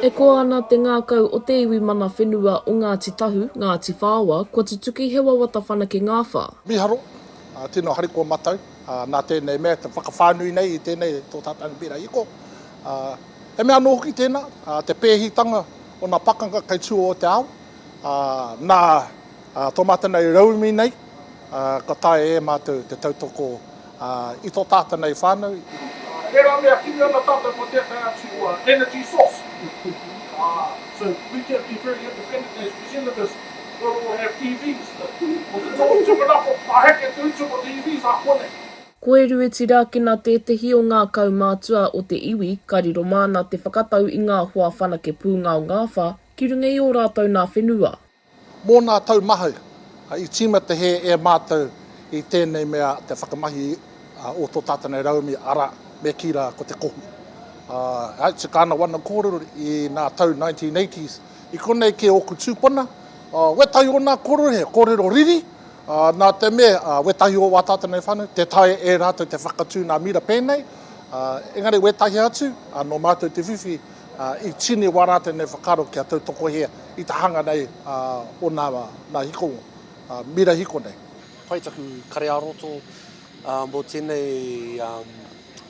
E koa ana te ngākau o te iwi mana whenua o Ngāti Tahu, Ngāti Whaoa, kua tutuki he wawata whanake ngāwha. Miharo, tino harikoa matau nā tēnei mea te whakawhānui nei i tēnei tō tātau mbira hiko. He mea anō hoki tēnā, te pēhitanga o nā pakanga kei tua o te ao, nā Tō mātou nei rauemi nei, kua taea e mātou te tautoko i tō tātou nei whānau. Tērā mea kimi ana tātou ko tētahi atu energy source. So we can be very independent as New Zealanders where we will have EVs. Ko te tohu tūmanako, ka heke te utu mō te EVs ā konei. Ko Erue Tirakina tētehi o ngā kaumātua o te iwi ka riro māna te whakatau i ngā hoa whanake pūngaongāwha ki runga i ō rātou nā whenua. Mō nā tau mahau, i tīmata hē e mātou i tēnei mea te whakamahi o tō tātou nei rauemi, arā, me kī rā ko te kohu. I tika ana wana kōrero i nā tau 1980s, i konei kē ōku tūpuna, wētahi o nā kōrero he kōrero riri, nā te mea wētahi o wā tātou nei whānau, tē taea e rātou te whakatū nā mira pēnei, engari wētahi atu, nō mātou te whiwhi I tini wā rā tēnei whakaaro kia tautokohia i te hanga nei o nā hikonga, mira hiko nei. Pai taku kare-ā-roto mō tēnei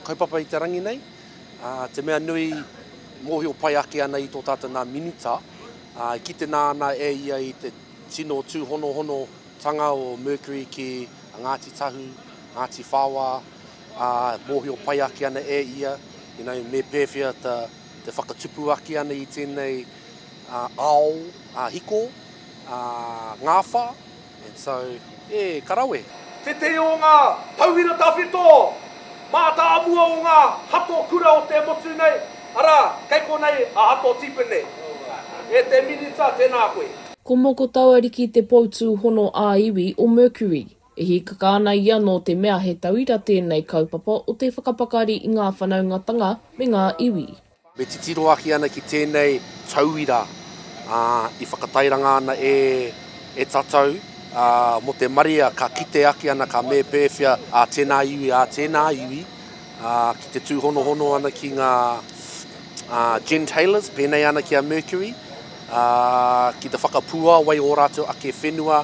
kaupapa i te rangi nei. Te mea nui, mōhio pai ake ana i tō tātou nā Minita, e kite nā ana e ia i te tino tūhonohonotanga o Mercury ki a Ngāti Tahu, Ngāti Whāwā, ā, mōhio pai ake ana e ia, you know, me pēwhea ta, te whakatupu ake ana i tēnei ao hiko, ā, ngāwha, and so, e, ka rawe. Tētehi o ngā tauira tawhito mā tā mua o ngā hato kura o te motu nei, arā, kei konei a Hato Tipene. E te Minita, tēnā koe. Ko Mokotauariki te poutūhono ā-iwi o Mercury. E hīkaka ana ia nō te mea he tauira tēnei kaupapa o te whakapakari i ngā whanaungatanga me ngā iwi. Me titiro ake ana ki tēnei tauira, ā, i whakatairanga ana e, e tatau, ā, mō te marea ka kite ake ana ka me pēwhea ā tēnā iwi, ā tēnā iwi, ā, ki te tūhonohono ana ki ngā, ā, gentailers, pēnei ana ki a Mercury, ā, ki te whakapuāwai ō rātou ake whenua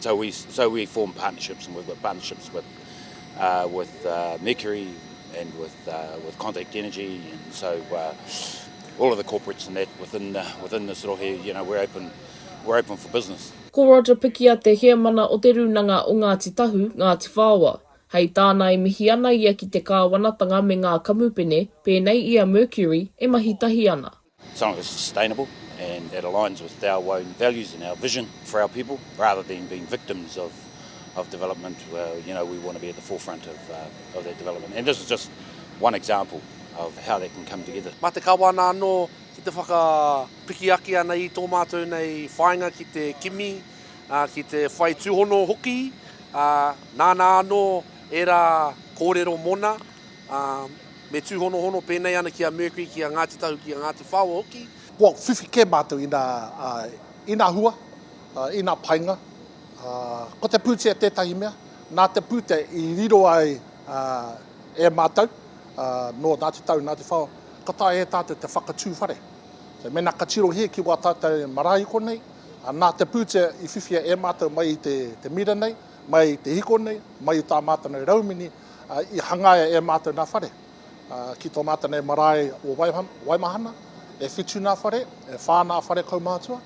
So we so we form partnerships, and we've got partnerships with uh, with uh, Mercury and with uh, with Contact Energy, and so uh, all of the corporates and that within the, within this rohe, you know, we're open we're open for business. Ko Roger Pikia te heamana o te rūnanga o Ngāti Tahu, Ngāti Whaoa. Hei tāna e mihi ana ia ki te kāwanatanga me ngā kamupene, pēnei i a Mercury, e mahi tahi ana. Something that's sustainable and that aligns with our own values and our vision for our people rather than being victims of of development well you know we want to be at the forefront of uh, of that development and this is just one example of how that can come together. Mā te kawana anō ki te whakapiki ake ana i tō mātou nei whāinga ki te kimi, uh, ki te whai tūhono hoki, uh, nāna anō era kōrero mona, ā, me tūhonohono pēnei ana ki a Mercury, ki a Ngāti Tahu, ki a Ngāti Whaoa hoki. Kua whiwhi kē mātou i nā, ā, i nā hua, ā, i nā painga, ā, ko te pūtea tētahi mea, nā te pūtea i riro ai, ā, e mātou, ā, nō Ngāti Tahu, Ngāti Whaoa, ka taea e tātou te whakatū whare. So, mēnā ka tirohia ki wā tātou marae i konei, ā, nā te pūtea i whiwhia e mātou mai i te, te mira nei, mai i te hiko nei, mai i tā mātou nei raumini, i hangaia e mātou nā whare. Ki tō mātou nei marae o Waimahana, e whitu nā whare, e whā nā whare kaumātua.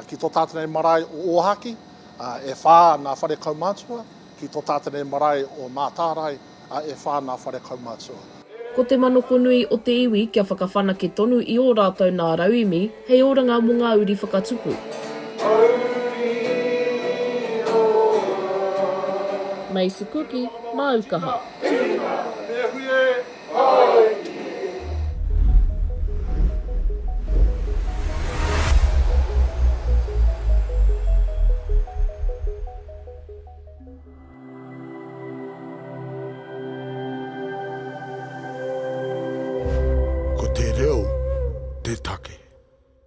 Ki tō tātou nei marae o Ōhākī, e whā nā whare kaumātua. Ki tō tātou nei marae o Mātārae, e whā nā whare kaumātua. Ko te manokonui o te iwi kia whakawhanake tonu i ō rātou nā rauemi, Hei oranga mo nga uri whakatupu. Macy Kuki, Māu kaha. Ko te reo te take.